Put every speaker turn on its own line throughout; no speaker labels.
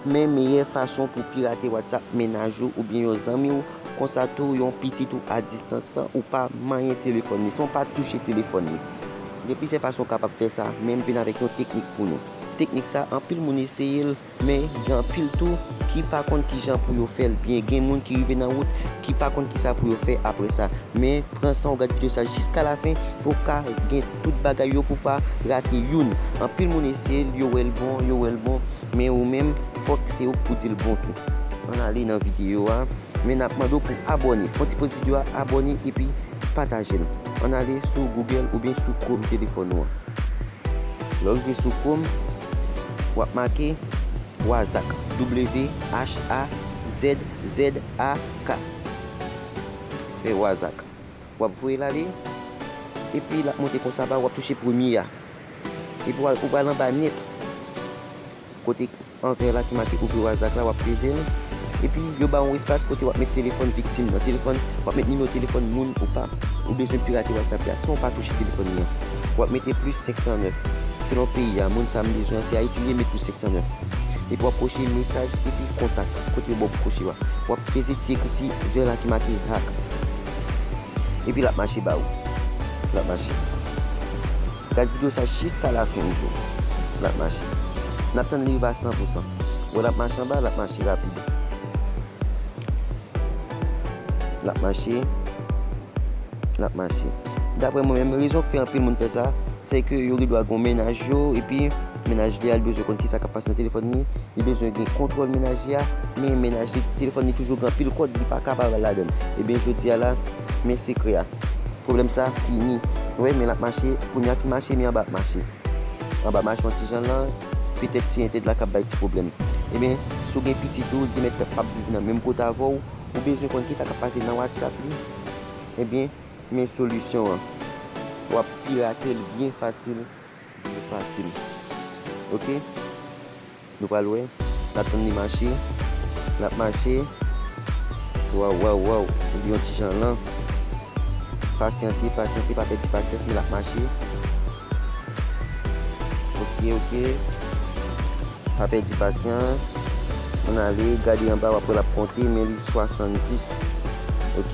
Men meyè fason pou pirate WhatsApp mennaj ou oubyen yon zanmi w, konsa tou yon pitit ou a distans san ou pa manyen telefòn li, san w pa touche telefòn li. Gen plizyè fason ou kapab fè sa, men m vin avèk yon teknik pou nou. Teknik sa anpil moun eseye l, men gen anpil tou ki pa konn kijan pou yo fè l byen. Gen moun ki rive nan wout ki pa konn kisa pou yo fè aprè sa. Men pran san w gad videyo sa jiska lafen pou w ka gen. tout bagay yo pou pa rate youn anpil moun eseyel yo wèl bon yo wèl bon men ou menm fòk se ouk pou dil bon tou ann ale nan video a men nap mande w pou abòne fon ti poz video a abòne epi patajel ann ale sou google oubyen sou chrome telefòn ou an lèw rive sou chrome wap make wazak WHAZZAK fè wazak. Wap voye l ale epi lap monte konsa ba ou wap touche premye a epi wal ou pral anba nèt kote anvè la ki make ouvri wazak la wap peze l epi yo ba ou yon espas kote wap met telefòn viktim nan telefòn wap met nimewo telefòn moun ou pa ou bezwen pirate whatsapp la san ou pa touche telefòn li an wap mete plis 509 selon peyi a moun sa m bezwen an si ayiti li ye met plis 509 epi wap koche mesaj epi kontak kote yo ba ou pou koche yo a wap peze ti ekriti vè la ki make hack Epi lap mache ba ou. Lap mache. Gad video sa jiska la fen zo. Lap mache. Nap tann li rive a 100 pou 100. Wè lap mache anba lap mache rapid. Lap mache. Lap mache. Daprè mwen menm rezon ki fè anpil moun fè sa se ke yo gen dwa gon mennaj yo epi. Mennaj li a li bezwen konn kisa kap pase nan telefòn li, li bezwen gen kontwòl mennaj li a, men mennaj li telefòn li toujou gen anpil kòd li paka pa wè ladann. Ebyen jodi a la men sekrè a. Pwoblèm sa fini. Nou wè men l ap mache, kounye a fin mache men anba ap mache. Anba mache yon ti jan lan, petèt se entèd la kap bay ti pwoblèm. Ebyen si w gen pitit ou li te mèt ap viv nan menm kote avè w, ou bezwen konn kisa kap pase nan whatsapp li, ebyen men solisyon an. Wap pirate l byen fasil. Li fasil ok nou pral wè na tann li mache lap mache waw waw waw li yon ti jan lan pasyante pasyante pa pèdi pasyans men lap mache ok ok pa pèdi pasyans ann ale gade anba wap wè lap konte men li 70 ok.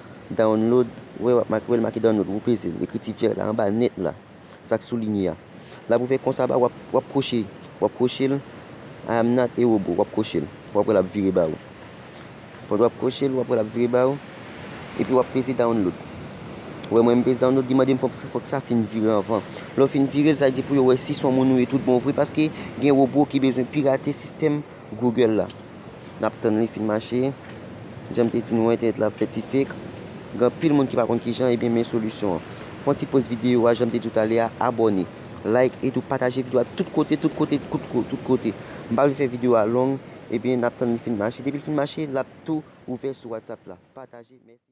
Download, Wè wap make, wè l make download wou peze l ekriti vèt la anba nèt la sak soulinye a la pou fè konsa ba wap kwoche wap kwoche l I am not a robot wap kwoche l wap wè lap vire ba ou fòk wap kwoche l wap wè lap vire ba ou epi wap peze download wè mwen m peze download li mande m fòk sa fin vire anvan lè w fin vire l sa vle di pou yo wè si son moun ou ye tout bon vre paske gen robot ki bezwen pirate sistèm Google la. Nap tann li fin mache. Janm te di nou an entènèt la ap fè ti fake. Gen anpil moun ki pa konn kijan ebyen men solisyon an. Fon ti poz video a janm te diw talè a abòne, like e tou pataje video a tout kote tout kote tout kote. M pa vle fè video a long ebyen nap tann li fin mache depil fin mache lap tou ouvè sou WhatsApp la. Pataje mèsi.